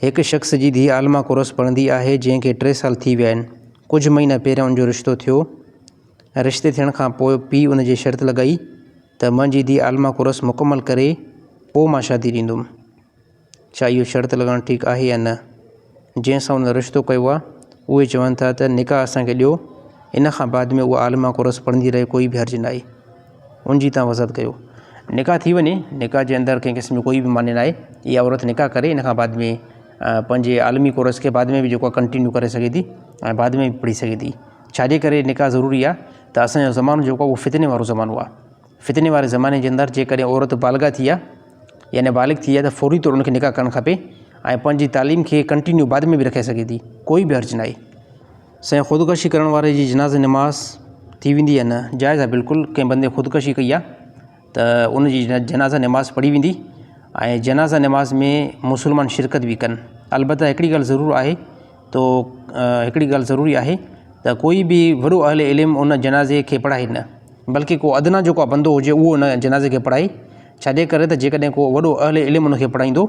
هڪ شخص جي ڌيء عالمه ڪورس پڙهندي آهي، جنهن کي ٽي سال ٿي ويا آهن. ڪجهه مهينا پهريان ان جو رشتو ٿيو ۽ رشتي ٿيڻ کان پوء پيء ان جي شرط لڳائي ته منهنجي ڌيء عالمه ڪورس مڪمل ڪري پوء مان شادي ڏيندم. ڇا اهو شرط لڳائڻ ٺيڪ آهي يا نه؟ جنهن سان ان رشتو ڪيو آهي، اهي چون ٿا ته نڪاح اسان کي ڏيو، ان کان بعد ۾ اها عالمه ڪورس پڙهندي رهي ڪوئي به حرج ناهي. ان جي تان وضاحت ڪيو. نڪاح ٿي وڃي، نڪاح جي اندر ڪنهن قسم جو ڪوئي به معني ناهي، اها عورت نڪاح ڪري ان کان بعد ۾ پنهنجي عالمي ڪورس کي بعد ۾ به جيڪو آهي ڪنٽينيو ڪري سگهي ٿي ۽ بعد ۾ به پڙهي سگهي ٿي، ڇا جي ڪري نڪاح ضروري آهي ته اسان جو زمانو جيڪو آهي اهو فتني وارو زمانو آهي، فتني واري زماني جي اندر جيڪڏهن عورت بالغه ٿي آهي يعني بالغ ٿي آهي ته فوري طور ان کي نڪاح ڪرڻ کپي ۽ پنهنجي تعليم کي ڪنٽينيو بعد ۾ به رکي سگهي ٿي، ڪوئي به حرج ناهي. سائين خودڪشي ڪرڻ واري جي جنازي نماز ٿي ويندي يا نه جائز آ بلڪل ڪنهن بندي خودڪشي ڪئي آ ته ان جي جنازه نماز پڙهي ويندي ۽ جنازه نماز ۾ مسلمان شرڪت به ڪن البته هڪڙي ڳالهه ضرور آهي تو هڪڙي ڳالهه ضروري آهي ته ڪوئي به وڏو اهل علم ان جنازي کي پڙهائي نه بلڪه ڪو ادنيٰ جو ڪو بندو هجي اهو ان جنازي کي پڙهائي ڇڏي ڪري ته جيڪڏهن ڪو وڏو اهل علم ان کي پڙهائيندو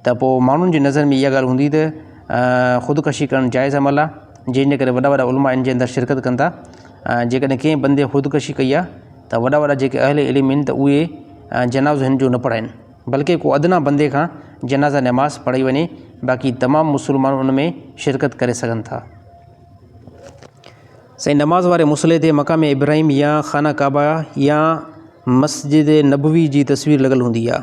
ته پوء ماڻهن جي نظر ۾ اها ڳالهه هوندي ته خودڪشي ڪرڻ جائز عمل آهي جنهن جي ڪري وڏا وڏا علماء ان جي اندر شرڪت ڪن ٿا ۽ جيڪڏهن ڪنهن بندي خودڪشي ڪئي آهي ته وڏا وڏا جيڪي اهل علم آهن ته اهي جنازو هن جو نه پڙهائن بلڪه ڪو ادنيٰ بندي کان جنازه نماز پڙهائي وڃي باقي تمام مسلمان ان ۾ شرڪت ڪري سگهن ٿا سائين نماز واري مصلي تي مقام ابراهيم يا خانه ڪعبه يا مسجد نبوي جي تصوير لڳل هوندي آهي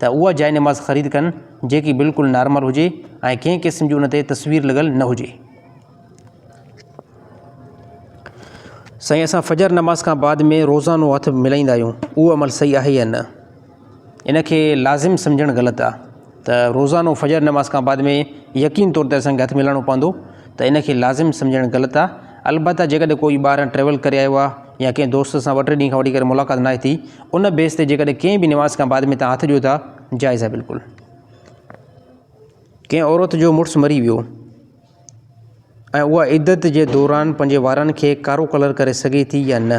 ته اها جاء نماز خريد ڪن جيڪي بلڪل نارمل هجي ۽ ڪنهن قسم جي ان تي تصوير لڳل نه هجي. سائين اسان فجر نماز کان بعد ۾ روزانو هٿ ملائيندا آهيون اهو عمل صحيح آهي يا نه ان کي لازم سمجهڻ غلط آهي ته روزانو فجر نماز کان بعد ۾ يقين طور تي اسان کي هٿ ملائڻو پوندو ته ان کي لازم سمجهڻ غلط آهي البته جيڪڏهن ڪوئي ٻاهران ٽريول ڪري آيو آهي يا ڪنهن دوست سان ٻه ٽي ڏينهن کان وٺي ڪري ملاقات ناهي ٿي ان بيس تي جيڪڏهن ڪنهن به نواز کان بعد ۾ توهان هٿ ڏيو ٿا جائز آهي بلڪل ڪنهن عورت جو مڙس مري ويو ۽ اها عدت جي دوران پنهنجي وارن کي ڪارو ڪلر ڪري سگهي ٿي يا نه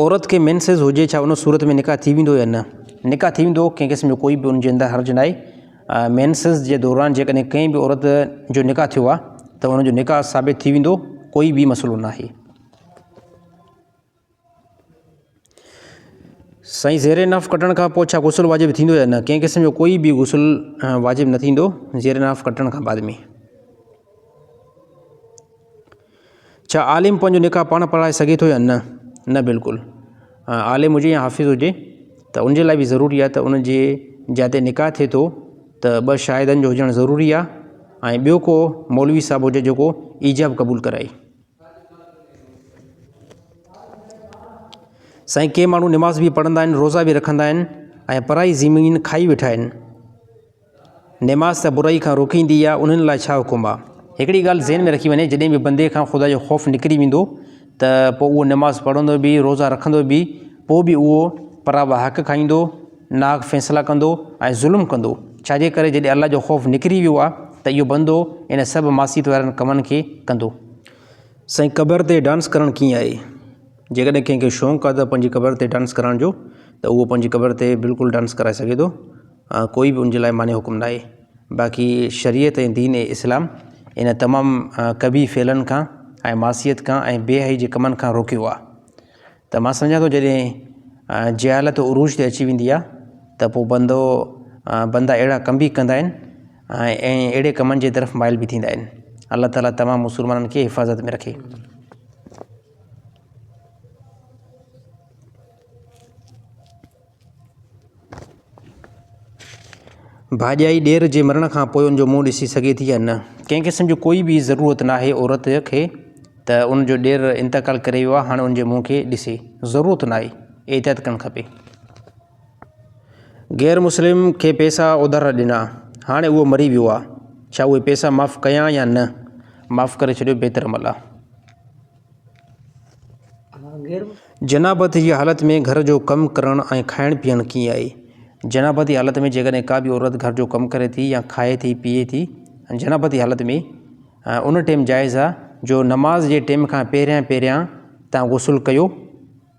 عورت کي مينسز هجي ڇا ان صورت ۾ نڪاح ٿي ويندو يا نه نڪاح ٿي ويندو ڪنهن قسم جو ڪوئي به ان جي اندر حرج ناهي مينسز جي دوران جيڪڏهن ڪنهن به عورت جو نڪاح ٿيو آهي ته ان جو نڪاح ثابت ٿي ويندو ڪوئي به مسئلو ناهي سائين زير ناف ڪٽڻ کان پوء ڇا غسل واجب ٿيندو يا نه ڪنهن قسم جو ڪوئي به غسل واجب نه ٿيندو زير ناف ڪٽڻ کان بعد ۾ ڇا عالم پنهنجو نڪاح پاڻ پڙهائي سگهي ٿو يا نه؟ نه بلڪل. عالم هجي يا حافظ هجي ته ان جي لاء به ضروري آهي ته ان جي جتي نڪاح ٿئي ٿو ته ٻه شاهدن جو هجڻ ضروري آهي ۽ ٻيو ڪو مولوي صاحب هجي جيڪو ايجاب قبول ڪرائي. سائين ڪي ماڻهو نماز به پڙهندا آهن روزا به رکندا آهن ۽ پرائي زمين کائي ويٺا آهن. نماز ته برائي کان روڪيندي آ، انهن لاء ڇا حڪم آ؟ هڪڙي ڳالهه ذهن ۾ رکي وڃي، جڏهن به بندي کان خدا جو خوف نڪري ويندو ته پوء اهو نماز پڙهندو به، روزا رکندو به، پوء به اهو پراوا حق کائيندو، ناحق فيصلا ڪندو ۽ ظلم ڪندو. ڇاجي ڪري جڏهن الله جو خوف نڪري ويو آ ته اهو بندو ان سڀ معصيت وارن ڪمن کي ڪندو. سائين قبر تي ڊانس ڪرڻ ڪيئن آهي؟ جيڪڏهن ڪنهن کي شونق آ ته پنهنجي قبر تي ڊانس ڪرڻ جو ته اهو پنهنجي قبر تي بلڪل ڊانس ڪرائي سگهي ٿو. ڪوئي به ان جي لاء مانع حڪم ناهي باقي شريعت ۽ دين اسلام ان تمام قبيح فعلن کان ۽ معصيت کان ۽ بي حيائي جي ڪمن کان روڪيو آهي ته مان سمجهان ٿو جڏهن جهالت عروج تي اچي ويندي آهي ته پوء بندو بندا اهڙا ڪم به ڪندا آهن ۽ اهڙي ڪمن جي طرف مائل به ٿيندا آهن الله تعاليٰ تمام مسلمانن کي حفاظت ۾ رکي ڀاڄائي ڏير جي مرڻ کان پوء ان جو منهن ڏسي سگهي ٿي يا نه؟ ڪنهن قسم جو ڪوئي به ضرورت ناهي عورت کي ته ان جو ڏير انتقال ڪري ويو آهي هاڻي ان جي منهن کي ڏسي. ضرورت ناهي. احتياط ڪرڻ کپي. غير مسلم کي پيسا اوڌار ڏنا هاڻي اهو مري ويو آهي ڇا اهي پيسا معاف ڪيان يا نه؟ معاف ڪري ڇڏيو بهتر عمل آهي. جناب تي جي حالت ۾ گهر جو ڪم ڪرڻ ۽ کائڻ پيئڻ ڪيئن آهي؟ جناب تي حالت ۾ جيڪڏهن ڪا به عورت گهر جو ڪم ڪري ٿي يا کائي ٿي پيئي ٿي جناب تي حالت ۾ ان ٽيم جائز آهي جو نماز جي ٽيم کان پهريان پهريان تان غسل ڪيو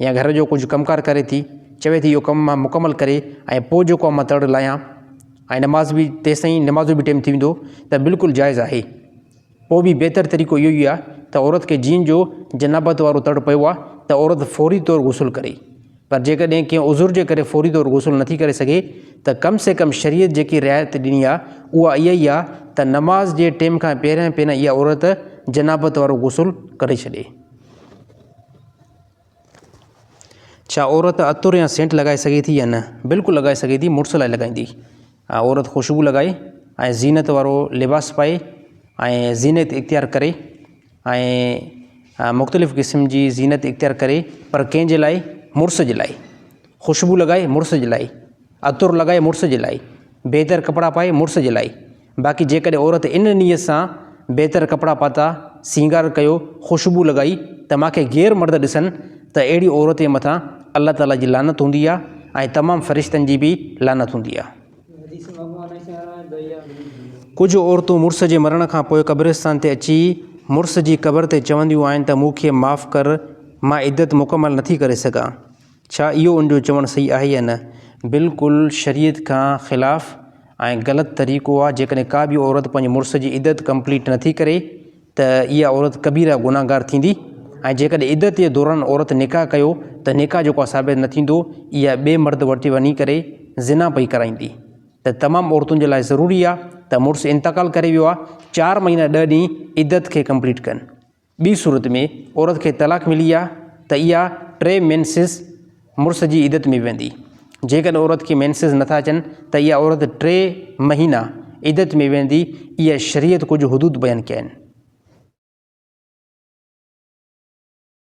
يا گهر جو ڪجهه ڪم ڪار ڪري ٿي، چوي ٿي اهو ڪم مان مڪمل ڪري ۽ پوء جيڪو آء مان تڙ لاهيان ۽ نماز به تيستائين نماز جو به ٽيم ٿي ويندو ته بلڪل جائز آهي. پوء به بهتر طريقو اهو ئي آهي ته عورت کي جيئن جو جنابت وارو تڙ پيو آهي ته عورت فوري طور غسل ڪري. پر جيڪڏهن ڪنهن عذر جي ڪري فوري طور غسل نٿي ڪري سگهي ته ڪم سي ڪم شريعت جيڪي رعايت ڏني آهي اها اها ئي آهي ته نماز جي ٽيم کان پهريان پهريان اها عورت جنابت وارو غسل ڪري ڇڏي. ڇا عورت عطر يا سينٽ لڳائي سگهي ٿي يا نه؟ بلڪل لڳائي سگهي ٿي، مڙس لاء لڳائيندي. عورت خوشبو لڳائي ۽ زينت وارو لباس پائي ۽ زينت اختيار ڪري ۽ مختلف قسم جي زينت اختيار ڪري پر ڪنهن جي لاء؟ مڙس جي لاء. خوشبو لڳائي مڙس جي لاء، عطر لڳائي مڙس جي لاء، بهتر ڪپڙا پائي مڙس جي لاء. باقي جيڪڏهن عورت ان نيت سان بهتر ڪپڙا پاتا، سينگار ڪيو، خوشبو لڳائي ته مان کي غير مرد ڏسن ته اهڙي عورت جي مٿان الله تعاليٰ جي لعنت هوندي آهي ۽ تمام فرشتن جي به لعنت هوندي آهي. ڪجهه عورتون مڙس جي مرڻ کان پوء قبرستان تي اچي مڙس جي قبر تي چونديون آهن ته مون کي معاف ڪر مان عدت مڪمل نٿي ڪري سگهان. ڇا اهو ان جو چوڻ صحيح آهي يا نه؟ بلڪل شريعت کان خلاف ۽ غلط طريقو آ، جيڪڏهن ڪا به عورت پنهنجي مڙس جي عدت ڪمپليٽ نٿي ڪري ته اها عورت ڪبيره گنهگار ٿيندي ۽ جيڪڏهن عدت جي دوران عورت نڪاح ڪيو ته نڪاح جيڪو آ ثابت نه ٿيندو اها ٻئي مرد وٽ وڃي ڪري زنا پئي ڪرائيندي ته تمام عورتن جي لاء ضروري آ ته مڙس انتقال ڪري ويو آ چار مهينا ڏهه ڏينهن عدت کي ڪمپليٽ ڪن. ٻي صورت ۾ عورت کي طلاق ملي آ ته اها ٽي مينسز مڙس جي عدت ۾ ويندي. جيڪڏهن عورت کي مينسز نٿا اچن ته اها عورت ٽي مهينا عدت ۾ ويندي اهي شريعت ڪجهه حدود بيان ڪيا آهن.